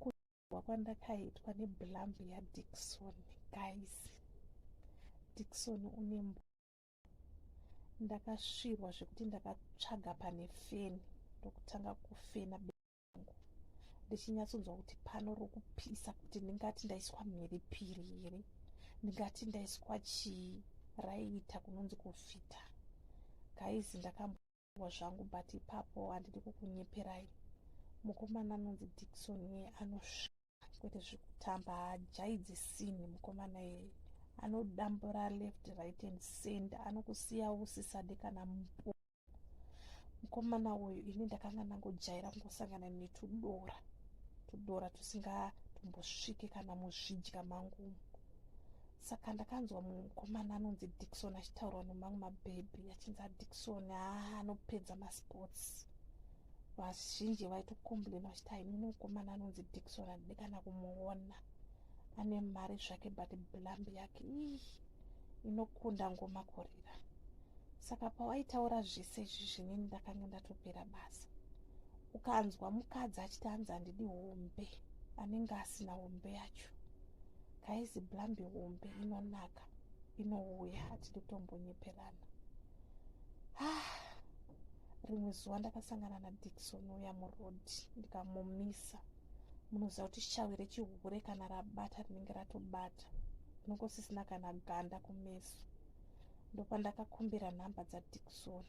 kuwa kwandakaitwa neblambi yadickson guys dickson une mbo ndakasvirwa zvekuti ndakatsvaga pane feni ndokutanga kufena beangu ndichinyatsonzwa kuti pano rokupisa kuti ndingati ndaiswa mhiripiri here ndingati ndaiswa chii raiita kunonzi kufita gaizi ndakambo Ndakadaidzirwa zvangu but ipapo handidi kukunyeperai mukomana anonzi Dickson iye anosvika kwete zvekutamba haajaidze sini mukomana iyeye anodambura left right and center anokusiya usisade kana mpo mukomana uyu ini ndakanga ndangojaira kungosangana netudora tudora tusingatombosvike kana muzvidya mangumu saka ndakanzwa mumwe mukomana anonzi dikson achitaurwa nemamwe mabhebhi achinzi adikson haa anopedza masports vazhinji vaitokomblena vachiti haimune mukomana anonzi dikson andide kana kumuona ane mari zvake but blambi yake ii inokunda ngoma kurira saka pawaitaura zvese izvi zvinini ndakange ndatopera basa ukanzwa mukadzi achiti anzi handidi hombe anenge asina hombe yacho Guys, blambi hombe inonaka inouya hatidi kutombonyeperana. Ah, rimwe zuva ndakasangana naDikson uya muroad ndikamumisa. Munoziva kuti shawi rechihure kana rabata rinenge ratobata rinongo sisina kana ganda kumeso. Ndopandakakumbira nhamba dzaDikson.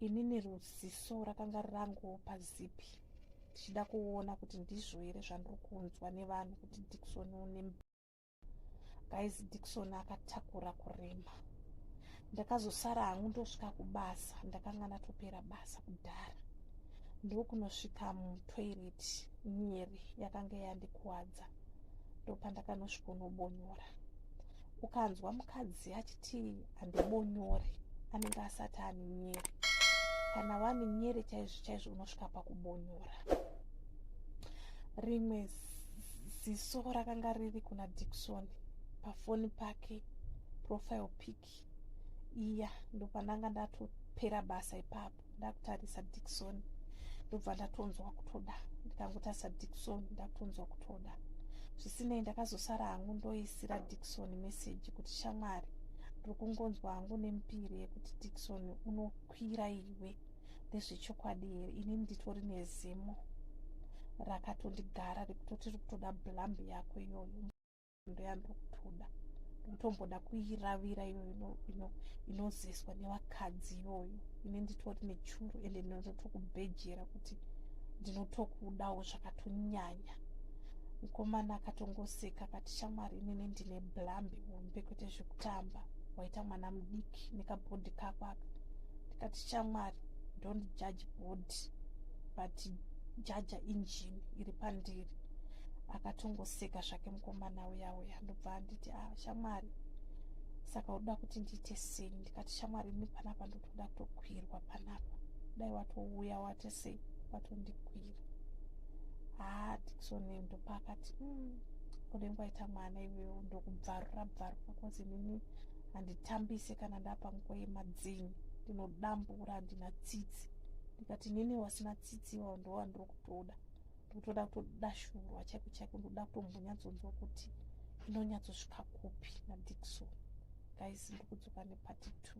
inini ruziso rakanga rirangowo pazipi ndichida kuona kuti ndizvo here zvandiri kunzwa nevanhu kuti dikson une guys dikson akatakura kurema ndakazosara hangu ndosvika kubasa ndakanga natopera basa kudhara ndokunosvika mutoilet nyeri yakanga yandikuwadza ndopandakanosvikonobonyora ukanzwa mukadzi achiti handibonyore anenge asati ane nyere kana wane nyere chaizvo chaizvo unosvika pakubonyora rimwe ziso rakanga riri kuna dikson pafoni pake profile pic iya ndopandanga ndatopera basa ipapo ndakutarisa dikson ndobva ndatonzwa kutoda ndikangotarisa dikson ndakutonzwa kutoda zvisinei ndakazosara hangu ndoisira dikson meseji kuti shamwari ndiri kungonzwa hangu nemupiri yekuti dikson unokwira iwe ndezvechokwadi here ini nditori nezimo rakatondigara rekutotirikutoda blambi yako iyoyo ndoyandiri kutoda ndotomboda kuiravira iyoyo inoziswa nevakadzi iyoyo ine nditori nechuru ende ndinotokubhejera kuti ndinotokudawo zvakatonyanya mukomana akatongoseka akati shamwari inini ndine blambi hombe kwete zvekutamba waita mwana mudiki nekabhodhi kako aka ndikati shamwari don't judge bhodhi but jaja injini iri pandiri akatongoseka zvake mukomana uya uya ndobva anditi ah shamwari saka uda kuti ndiite sei ndikati shamwari ini panapa ndotoda kutokwirwa panapa dai watouya wate sei watondikwira haa dikson ndopaakati mm, ode nguva ita mwana iwewo ndokubvarura bvarura kozi nini handitambise kana ndapa nguva yemadzini ndinodambura handina tsitsi ndikati nini wasina tsitsi iwao ndowa ndiri kutoda ndotoda kutodashurwa chaiko chaiko ndoda kutombonyatsonzwa kuti inonyatsosvika kupi nadikson guys ndikudzoka nepati two